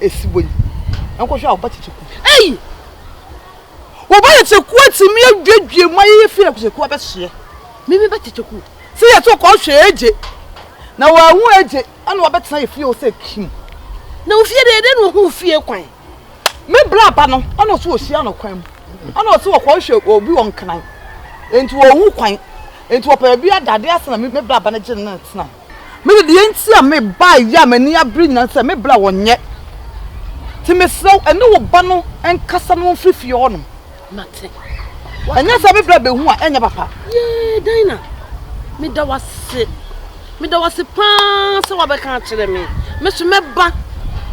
esi hɔ yi. Nkɔhwɛ a wo ba tete ku. Ei! Wo ba tete ku atumi aduadua mu ayeyɛ fi na tete ku abɛhyeɛ. Me me ba tete ku. Sɛ yɛ to kɔ hwɛ agye. Na wɔahu agye ɛna wɔabɛtena yɛ fie o sɛ kim. Na wo fie deɛ ɛdɛ na ɔhu wo fie kwan. Me bra ba no ɛna ɔso ɔhyia no kwan mu. Ɛna ɔso ɔkɔ hwɛ obi wɔ nkran. Enti wɔhu kwan. Enti wɔpɛ baabi adade ase na me bra ba no gye no na ɛtena. Me de, deɛ nti a mebaeɛ a m'ani abere nyinaa ne sɛ me bra wɔnyɛ. Enti mesrɛ wo, ɛne wo ba no nkasa na wɔmfiri fie hɔnom. Mate. Ɛnyɛ sɛ me bra bɛhu a, ɛnyɛ papa. Yee, Dinah, meda wo ase. Meda wo ase paa sɛ woabɛka akyerɛ me. Me so mɛba.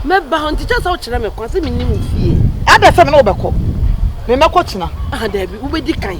Mɛba hɔ nti kyɛ sɛ wokyerɛ me kwan sɛ menni wo fie. Adɛn sɛ me ne wo bɛkɔ? Memmɛkɔ kyena. Aha, daabi, wobɛdi kan.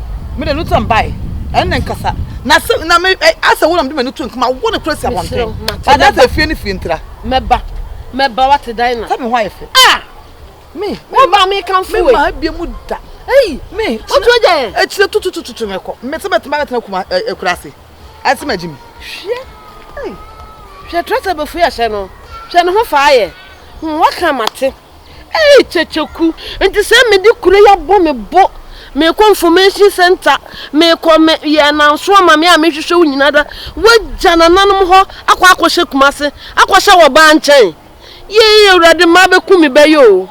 Me de no tam bae. Ɛnna nkasa. Na se na me ɛ asɛ wo na mede m'ani to nka ma wo ne koro si abɔnten. Ba na asɛ fie ne fie ntira. Mɛba. Mɛba wate dan na. Sɛ me hɔ ayɛ fɛ. Ah! Me. Wo ba me kan fue. Me ma abie mu da. Ei! Me. Otu agya yɛ. Ekyire tututututu me kɔ. Me se mɛtena mɛtena kuma ɛ ɛ kura ase. Ase ma gyimi. Hwɛ. Ei. Hwɛ trɛsɛ bɛfue ahyɛ no. Hwɛ ne ho fa ayɛ. Hm waka mate. Ei Kyekyeku, nti sɛ me de kuro yi abɔ me bo, me kɔ information center, me kɔ me yɛ ananso ama me a me hwehwɛ wo nyina da, wagya nananom hɔ akɔ akɔ hyɛ Kumase, akɔ hyɛ wɔ baa nkyɛn? Yei awurade mmaa bɛku me bɛ yoo,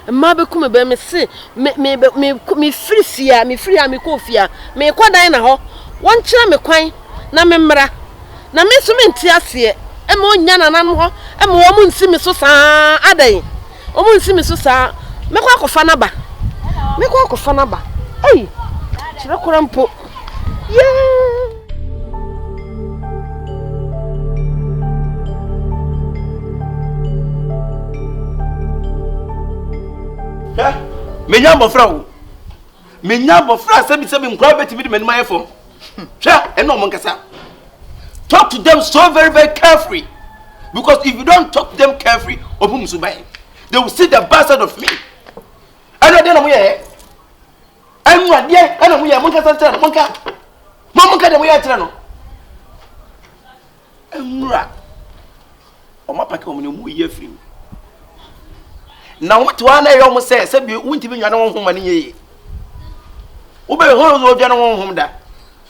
mmaa bɛku me bɛ, me se me me me me firi fie a, me firi ha me kɔ ofie a, me kɔ dan na hɔ, wɔn kyerɛ me kwan. na memmra, na me nso mente aseɛ, mma ɔnnya nananom hɔ mma wɔn nsi me so saa adɛn? Wɔn nsi me so saa, mɛkɔ akɔfa no aba, mɛkɔ akɔfa no aba, ei, kyerɛ kora mpo, yee. Hwɛ, menya mmɔfra o. menya abɔfra a sɛbisɛbi nkora bɛtumi de m'anim ayɛ fam hwɛ ɛne ɔmo nkasa talk to them so very very carefully because if you don't talk to them carefully ɔmo mu so bɛyɛ they will see the bad side of me ɛne ɛdeɛ na mo yɛ ɛnu adeɛ ɛna mo yɛ mo nkasa nkyerɛ no mo nka mo mo nka deɛ mo yɛ nkyerɛ no. Mmra. Wɔn apake wɔn na wɔn reyi afiri mu. Na wɔn te hɔ ara na ɛyɛ wɔn sɛ sɛbi wontumi nwane wɔn ho ma ne nyɛ yie. Wobɛyɛ hɔn sɛ wɔdwane wɔn ho da.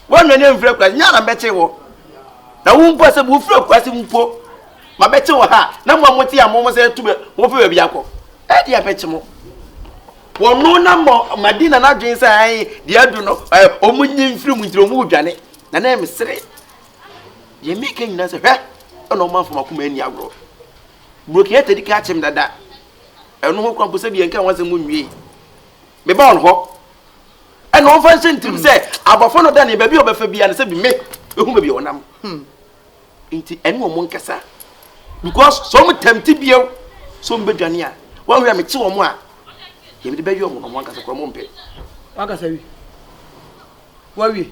Wɔanwane amfiri akurase nyɛ ara mbɛte wɔ. Na wo mpo sɛ wofiri akurase mpo ma bɛte wɔ ha na mo a mote a mo sɛ tu bɛ wɔn fɛ baabi akɔ. Ɛde abɛkye mo. Wɔn na mɔ madi na n'adwene sɛ ayi deɛ adu no ɛɛ wɔn nyi mfiri mu nti wɔn redwane na na ɛmesere. Deɛ meka nyinaa sɛ hwɛ ɛna ɔmanfo makoma ani agorɔ. Brokin ɛtɛ di ka akyem dada. Ɛno ho kora mpo sɛ bi yɛnka ho asɛm mu nwie. Meba wɔn hɔ. Ɛna ɔmfa nhyɛ ntirim sɛ abɔfo no da ne baabi a ɔbɛfa bia no sɛ bi me ehu baabi a ɔnam. Hmm. Nti ɛne wɔn nkasa. Because sɛ wɔn tɛmti bio sɛ wɔn bɛdwane a wɔn hwɛ a mekye wɔn a yɛmde bɛyɛ wɔn na wɔn ankasa kora wɔn mpɛ. Wakasa wi. Wawie.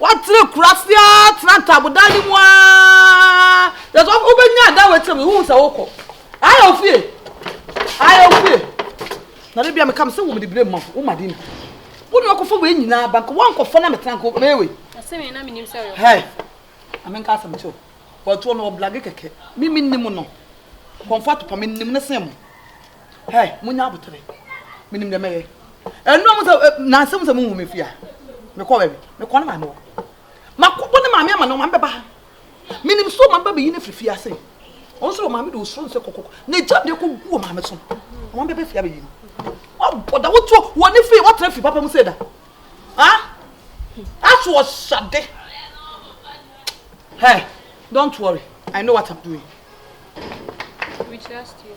Watena kuro ase ara tena ntaabodan no mu ara. Just wɔn wobɛnya adan wɔ akyire mu wohu sɛ wokɔ. Ayɛ ofie. Ayɛ ofie. Na de bia meka me sɛ wo mede bere ma wo ma din. Wo na wakɔfa wei nyinaa ba nka wankɔfa na metena nka mɛyɛ wei. Asɛm yɛ na menim sɛ ɔyɛ. Hɛ. Ame nka asɛm kyɛw. Wɔtoɔ no ɔblage kɛkɛ. Me menim no. Kɔmfa topa menim ne sɛn mo. Hɛ, monya aboterɛ. Menim deɛ mɛyɛ. Ɛnura mo sɛ nansa mu sɛ mo nhu me fie a. Mekɔ baabi. Mekɔ ne maame hɔ. Makɔbɔ ne maame ama ne maame bɛba ha. Menim so maame ba bɛyi ne firi fie ase. Ɔno soro maame de osoro nsɛ kɔkɔkɔ. Ne gya deɛ kɔ gu wɔ maame so. Maame bɛbɛ fie abɛyi no. Ɔbɔ da wotuo wɔ ne fie wɔtena fie papa mu sɛ da. Ha? Aso ɔhyade. Hɛ, don't worry. I know what I'm doing. We trust you.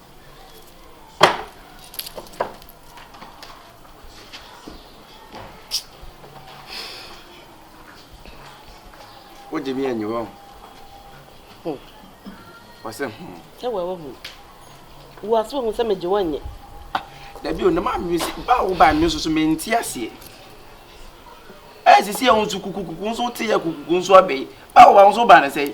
wogye me anyi wɔ ho wɔsɛ ho ɛwɔ ɛwɔ ho wo ase wɔ ho sɛ megye wɔnyɛ dabi o na maa me si ba wo ba me nso so mente aseɛ ɛyɛ sisi ɛho nso kukukuku nso wote yɛ kukuku nso abɛyi ba wo ba nso ba ne sɛ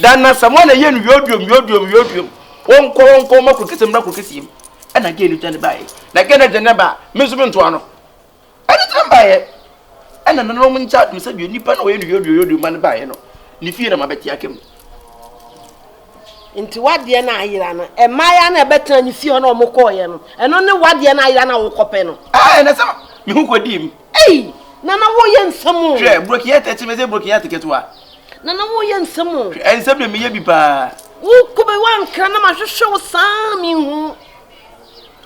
Da nnasa mu a na yɛ no yooduom yooduom yooduom wɔnkɔ wɔnkɔ wɔn akɔ kese mmra kɔ kese mu ɛna gɛɛ no dwane baayɛ na gɛɛ no dwane ba me nso me ntoa no ɛne tena baayɛ ɛna nana wɔn nkyɛn adum sɛ deɛ nipa na wɔyɛ no yooduom yooduom ma no baayɛ no ne fie na ma bɛte aka mu. nti wadeɛ no ayera no mmaeɛ na ɛbɛtena ne fie hɔ na wɔkɔɔyɛ no ɛno ne wadeɛ no ayera no a wokɔpɛ no ɛnɛ sɛ meho kɔdii mu Ei! Nana wo yɛ nsɛm o. Hwɛ brokinya tɛkyi mɛsɛ brokinya te ketewa. Nana wo yɛ nsɛm o. Hwɛ nsɛm deɛ meyɛ bi paa. Wo kɔ bɛ wa nkra na ma hwehwɛ wo saa mi hu.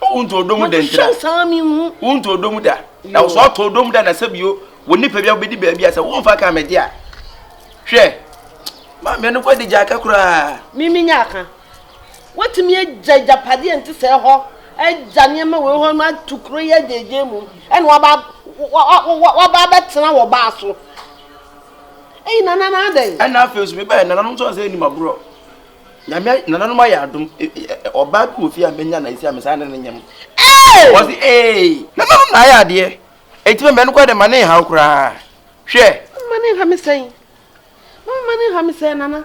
O wo nto odom dɛ ntina. Ma hwehwɛ wo saa mi hu. Wo nto odom da. Na wo sɛ ɔtɔ odom da na sɛ bio wɔ nipa bi a wobɛdi baabi a sɛ wo nfa kan mɛgye a. Hwɛ. Maame no kɔ de gya aka koraa. Mimi nya aka. Woatumi agya agyapadeɛ a ɛnte sɛɛ hɔ, agya nneɛma wei hɔ, na atu kuro yi agyaagyaa mu, ɛna waba waba abɛtena wɔ baa so. Eyi nana na adɛn? Ɛna afei nso mebɛyɛ nananom nso ansa anim agorɔ. Nyame nananom ayɛ adom. Ɔbaa bi wɔ fie a menya na esi a mesan ne no nyam. Wɔsi ee nananom na ayɛ adeɛ. Eti mɛmɛ no kɔ de ma ne nhaw koraa. Hwɛ. Mama ne nha me sɛn. Mama ne nha me sɛn nana.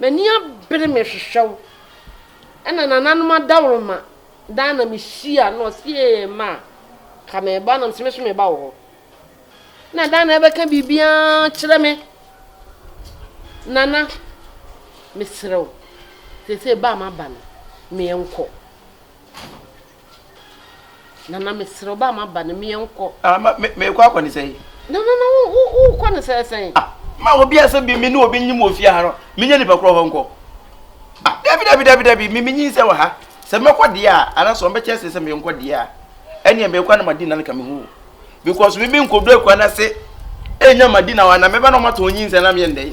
M'ani abere me hwehwɛ wo. Ɛna nananom adaworoma daa na me hyia na ɔse ee ma a ka me ba na mese me so me ba wɔ hɔ. Na daa na ɛbɛka biribiara kyerɛ me. Nana meserɛ wo sese ba a maba no meɛ nkɔ. Nana mesrɛ wo ba maba no meɛ nkɔ. Ah ma me me kɔ akɔ ne sɛn. Nana na wo wo wo kɔ ne sɛn sɛn. Ah ma obi a sɛ bi me ne obi nyim wɔ fie ha no me nya nipa korɔ hɔ nkɔ. Ah dabi dabi dabi dabi me me nyin sɛ wɔ ha sɛ mɛ kɔ deɛ a ana sɛ ɔmbɛ kyɛ sɛ sɛ me nkɔ deɛ a ɛneɛ me kɔ ana ma di na nka me ho because me me nkɔ do akua na se ɛnya ma di na wana mɛba na ɔma tɔn nyin sɛ na me yɛ ndɛn.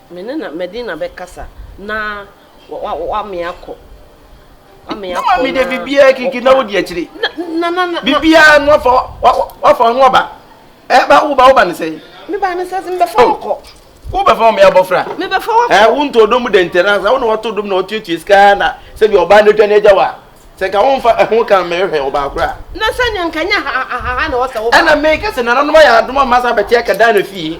Me ne na madi na bɛkasa na wame akɔ. Na mami de bibiaa kiki na wodi akyire. Bibiaa no wafa wafa ɔno ɔba. Eh ba wo ba wo ba ne sɛ. Me ba ne sɛ mbɛfa oh. wakɔ. Wo bɛfa wɔn abɔfra. Me bɛfa wakɔ. Eh wo ntɔ dom dɛ ntɛra sɛ wo na wɔtɔ dom na wɔtuatua sika na sɛbi ɔbaa no dwa ne agya wa. Sɛ nka wo nfa ɛho kan mɛhwɛ ɔbaa kora. Na sɛ nea nka nya ha ha ha na wɔsɛ wo ba. Ɛna mɛka sɛ nananom ayɛ adom a masa bɛte akɛdan na fie.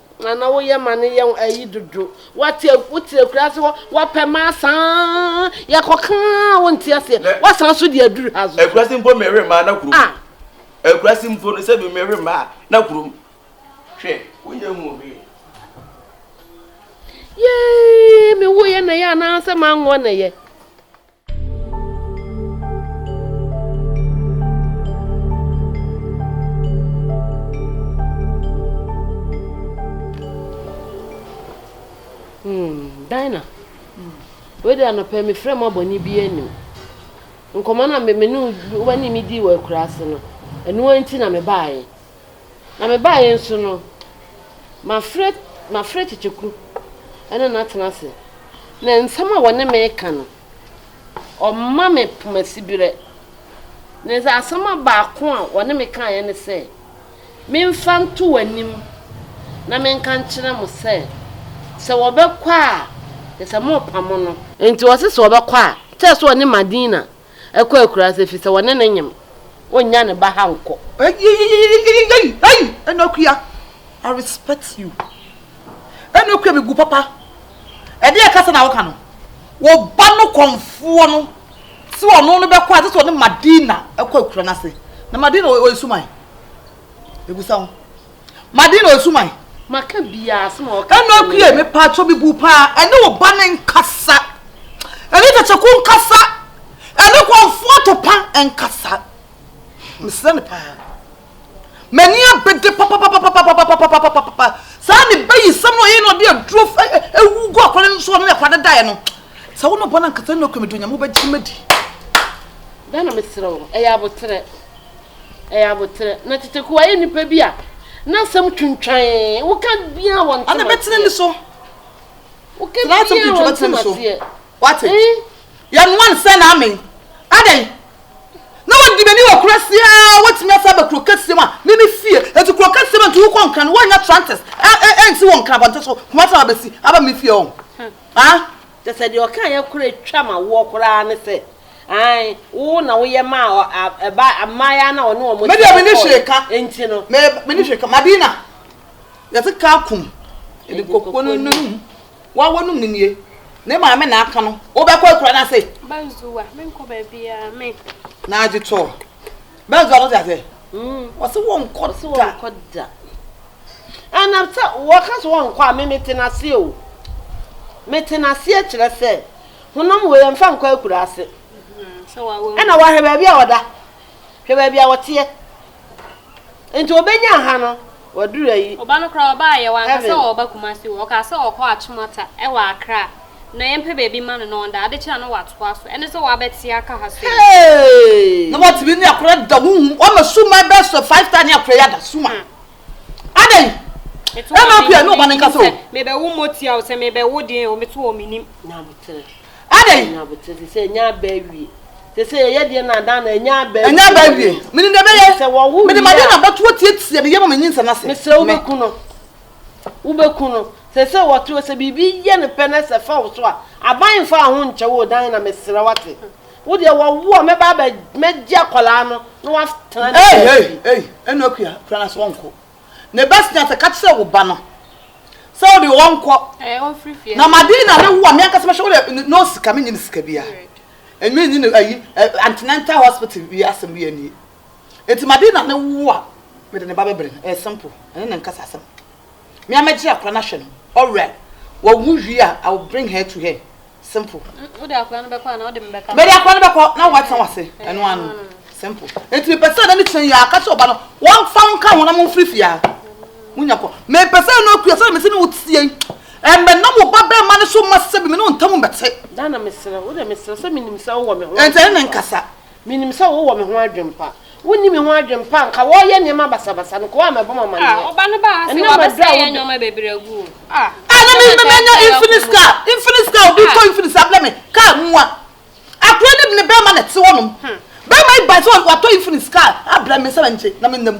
Nana wo yɛ ma ne yɛ ayi dodo wa te wo te akura se hɔ wa pɛ ma saa yɛ kɔ kan wo nte ase wa san so de aduru ha so akura se mpo me hwe ma na kuro ah akura se mpo no se bi me hwe ma na kuro hwe wo yɛ hu hwe yee me wo yɛ na yɛ ana se ma ngo na yɛ Dina, wei de anɔpɛ mefrɛ mu abɔne bi anim. Nkɔmmɔ no a me ne wo ne me dii wɔ akuraase no, ɛno nti na mebaeɛ. Na mebaeɛ nso no, mafrɛ mafrɛ tete kuro ne no atena ase, na nsɛm a wɔne me reka no, wɔma me poma siberɛ. Na sɛ asɛm a baako a wɔne me kaeɛ ne sɛ, Memfa nto w'anim na menka nkyerɛ mo sɛ, sɛ wɔbɛkɔ a, kyerɛ sɛ morepamo no. Enti wɔse sɛ wɔbɛkɔ a, kyerɛ sɛ wɔne Madina ɛkɔ akuraase efisɛ wɔne no nyem, onnya ne ba ha nkɔ. Eyieieiei ei Enokua I respect you Enokua me gu papa ɛdeɛn kasa na woka no wo ba no kɔnfoɔ no se ɔno no bɛkɔ a ɛsɛ sɛ ɔne Madina ɛkɔ akura no ase na Madina ɔyɛ suman mebusa wo Madi na osu man. Maka biara asem a ɔka. Ɛnu akue me pa atso me bu paa ɛne wo ba ne nkasa ɛne tɛkyɛku nkasa ɛne kwanfo atopa nkasa mesrɛ no paa m'ani abede papapapapapapapapapapa saa ne ba yi sɛm na ɔyɛ na ɔde aduro ewu gu akɔre no so ɔne akɔre no daeɛ no sɛ wo na ɔbɔ no ankasa ɛnu akue me do nyame wobɛgye madi. Bɛna mesrɛ wo ɛyɛ aboterɛ. Ɛyɛ aboterɛ. Na tete koraa yɛ nnipa bi a na asɛm twintwan. Woka biara wɔn ntem aseɛ. Ɔde bɛtene ne so. Woka biara wɔn ntem aseɛ. Wate? Yɛnoa no sɛ na amen. Adɛn? Na wɔdi m'ani wɔ kura seɛ a wɔtumi asa aba kuro kɛseɛ mu a me me fie. Enti kuro kɛseɛ mu a nti wokɔ nkran wɔnnya trantes ɛnsi wɔ nkran abɔnten so Kumasi a wɔabɛsi aba me fie hɔ. Haa? Kyerɛ sɛ, deɛ ɔkaeɛ koraa twa ma woɔ koraa ne sɛ, aane, wo na woyɛ maa ɔ, a, ɛba, mmaayaa no a ɔne wɔn Me deɛ menni hwee kɔɔeɛ ka, nti no. me, menni hwee ka. Madina, yɛte ka akum, yɛde kokuo no num, woa w'anum no nie, ne maame na aka no, wobɛkɔ akuraa no ase? Ba Zua, menkɔ baabiara, me. Naagye tɔɔ. bɛnso a no te ase wɔse wɔnkɔ da ɛna sɛ wɔka so wɔnkɔ a me metena ase o metena aseɛ kyerɛ sɛ honam wei ɛmfa nkɔ akura ase ɛna wɔahwɛ baabi a wɔda hwɛ baabi a wɔteɛ nti wɔbɛnya ha no Waduru ayi. Ɔba no koraa ɔbaeɛ, wanka sɛ ɔreba Kumasi o, ɔkaa sɛ ɔrekɔ Akyemɔta wɔ Accra, na yɛmpɛ baabi mma no na ɔnda, ade kye a na watoa so, ɛne sɛ wabɛte aka ha sei. Hey! Na watumi ne akora da honhom, wama suman bɛyɛ sɛ five star ne akora yi ada, suman. Adɛn? Ɛma akora ne ɔba no nkasa o. Mebɛwo mmɔtia o, sɛ mebɛwo deɛn o, me to hɔ menim. Na metere. Adɛn? Ɛnyɛ abotire te sɛ ɛnyɛ aba awie. Te sɛ yɛyɛ deɛ na adan na ɛnyɛ aba awie. Ɛnyɛ aba awie. Menim deɛ ɛbɛyɛ. Sɛ wɔwo wie a. Mede m'adeɛ na abatoɔ atiatia me yam ama nyinsɛn ase. Mesrɛ wo bɛku no. Wo bɛku no. Sɛ sɛ wɔte wo sɛ biribi yɛ no pɛ na sɛ fa wo so a, aban mfa wɔn ho nkyɛ wo dan na mesrɛ wate. Wo deɛ wɔwo a mɛba abɛ mɛgye akwadaa no na watena ne baabi. Ei ei ei ɛnna akua kura no ase ɔnko. Na ebɛsena sɛ eka kyerɛ wo ba no sɛ ɔde ɔnkɔ, na Madina ne wo a, me ankasa mɛhwɛ wo dɛ no no sika, mennye no sika biara. Enye enye no ayi, antenatal hospital yi asɛm biara nnie. Ntsi Madina ne wo a, mede ne ba bɛbrɛ no. Ɛyɛ simple, ɛne no nkasa asɛm. Me ara mɛgye akora no ahwɛ no, ɔwerɛ, wawu wie a, I will bring her to her. simple. wode akora no bɛkɔ anaa wode me bɛka. mede akora no bɛkɔ na woatena wase ɛno ano simple nti mepɛ sɛ na ne kyerɛ yɛ aka sɛ ɔba no wɔmfa nka ho na momfiri fie a monya kɔ mepɛ sɛ no akua sɛ mese ne wo tie ɛmɛ na mo ba bɛɛ ma ne so ma sɛ bi me ne wo ntam mbɛte. dana mesrɛ wo dɛ mesrɛ sɛ menim sɛ wowɔ me ho. ɛntɛ ne nkasa Minim sɛ wowɔ me ho adwempa. Wonni me ho adwempa a, anka wɔreyɛ nneɛma basabasa no, nka wɔamɛbɔ me amanneɛ. Ah, ɔba no baa ha sɛ Ɛnnɛ maduru a wɔabɛsɛe yɛn woda. nneɛma bebree agu o. Ah, Ah, na ɛsɛ me sɛ anka mɛnya yɛbɛyɛ Infinix ɔko no. car, Infinix car, obi tɔ Ah. Infinix abrɛ me, car mua. Akora ne ne bɛrima na ɛte hɔnom. Bɛrima yi bae sɛ watɔ Infinix car abrɛ me sɛ mɛngye na menna mu.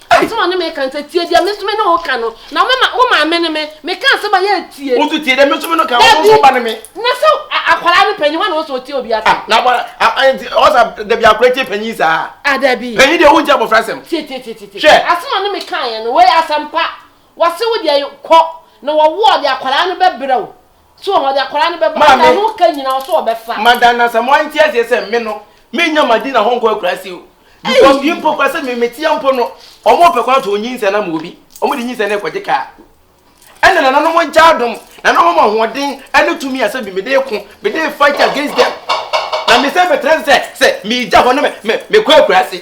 Ei! Asɛm a ɔne me ka no sɛ, Tie deɛ me nso me ne wo ka no, na me ma, wo maame ne me, meka asɛm a yɛretie. Wo nso tie deɛ me nso me ne wo ka, wo nso wo ba ne me. Dabi, na sɛ akwadaa no panyin, hwan na ɔwɔ sɛ ɔtie obi asɛm? Ah, na abɔra, ah, ah, nti ɔwɔ sɛ dabi akwadaa tie panyin saa? Ah, dabi. Panyin deɛ wontie abɔfra asɛm. Tie, tie, tie, tie, tie. Hwɛ. Asɛm a ɔne me kaeɛ no, wei asɛm pa. Wɔse wo deɛ kɔ, na wɔwoɔ de akwadaa no bɛbrɛ wo. So wɔn de akwadaa no bɛba? Maame. Ano ka nyina ɔso ɔbɛfa. Mada na sɛ mo ante aseɛ sɛ me no me nya ma di na hɔnkɔ akurase o because yi mpo kora sɛ me me tia mpo no ɔmo pɛ kwan to nyinsɛ na ma obi ɔmo de nyinsɛ na ɛkɔgye kaa ɛna nana no mo nkyɛ adom na na ɔmo ma hoɔden ɛne tumi a sɛ bi me de ko me de fight against them na me sɛ me tena sɛ sɛ me gya hɔ na me me me kɔ akurase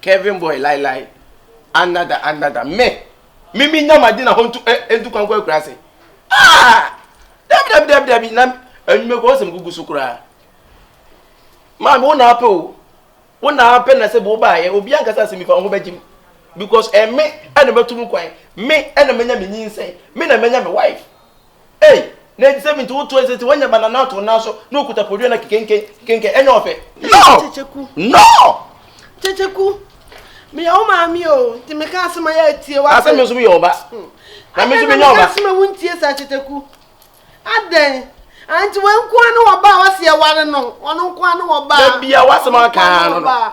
Kevin boy lai lai another another me me me nya ma di na ho ntu eh, eh ntu kwan kɔ akura ase ah dabi dabi dabi dabi na enyimɛ kɔ ɔsɛm gugu so koraa maame wo na apɛ o wo na apɛ na sɛ bo ba ayɛ obi ankasa asɛm fa ho bɛgye mu because ɛme eh, ɛna eh, mɛtu mu kwan me eh, ɛna mɛnya me nyinsɛn me na mɛnya me wife Ei! Na ɛte sɛ me nti wotoa nsɛ sɛ woanya banana ato wo nan so na wokuta podua na kekenken, kekenken, ɛnyɛ ɔfɛ. No! Kyekyeku. No! Kyekyeku, meyɛ wo maame o, nti meka asɛm a yɛ atie, wate? Asɛ me nso meyɛ wo ba, na me nso menya ɔba. Adɛn na meka asɛm a wontie saa, Kyekyeku? Adɛn? Ah, nti wei nko ara ne wɔba a wase yɛware no, ɔno nko ara ne wɔba a. Da bia w'asɛm a woka ara no no.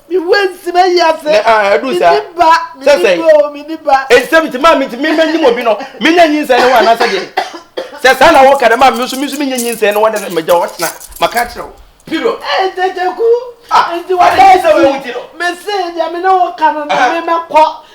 Me wura nti ma yi ase. Ne a ɛdu sa. Mini ba. Mini ba o mini ba. Nsɛm nti maa mi nti mi ma nyim obi no mi nya nyinsɛn ne ho anaasɛ deɛ sɛ saa na wɔka dɛ maa mi nso mi nso mi nya nyinsɛn ne ho anaasɛ ma gya hɔ tena ma ka kyerɛ wo. Period. Ee tete ku. Nti wa bɛ si. Mesi deɛ mi ne wo ka no na mi mɛ kɔ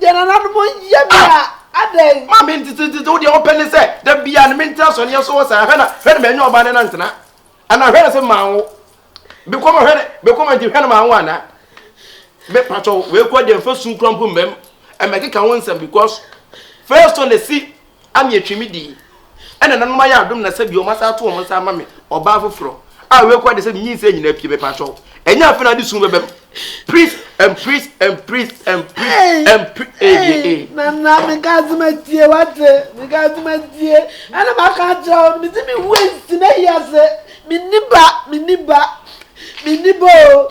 Deɛ nananom yɛ me a, adɛn? Ma me ntetetete, wo deɛ wopɛ ne sɛ da biara no mentena asɔneɛ so hɔ saa. Hwɛ na, hwɛ na manya ɔbaa ne na ntena anaa? Hwɛ na sɛ manwo bekɔma, hwɛ na bekɔma nti hwɛ na manwo anaa? Me patwɔ, wei kura deɛ mfa su kura mpo mmam ɛmɛkeka ho nsɛm because first one si a metwi me di ɛna nanom ayɛ adom na sɛ bi wɔn asa ato wɔn nsa ama me ɔbaa foforɔ a wei kura de sɛ menyi nsɛ nyinaa pie mɛpa atwɔ ɛnyɛ afei na ade sum bɛbɛm priest and priest and priest and priest and priest ee eh, eh, eh. na na meka ase ma tie wate meka ase ma tie ɛna maka akyerɛ wo no mete me waist na ayi ase menni ba menni ba menni ba o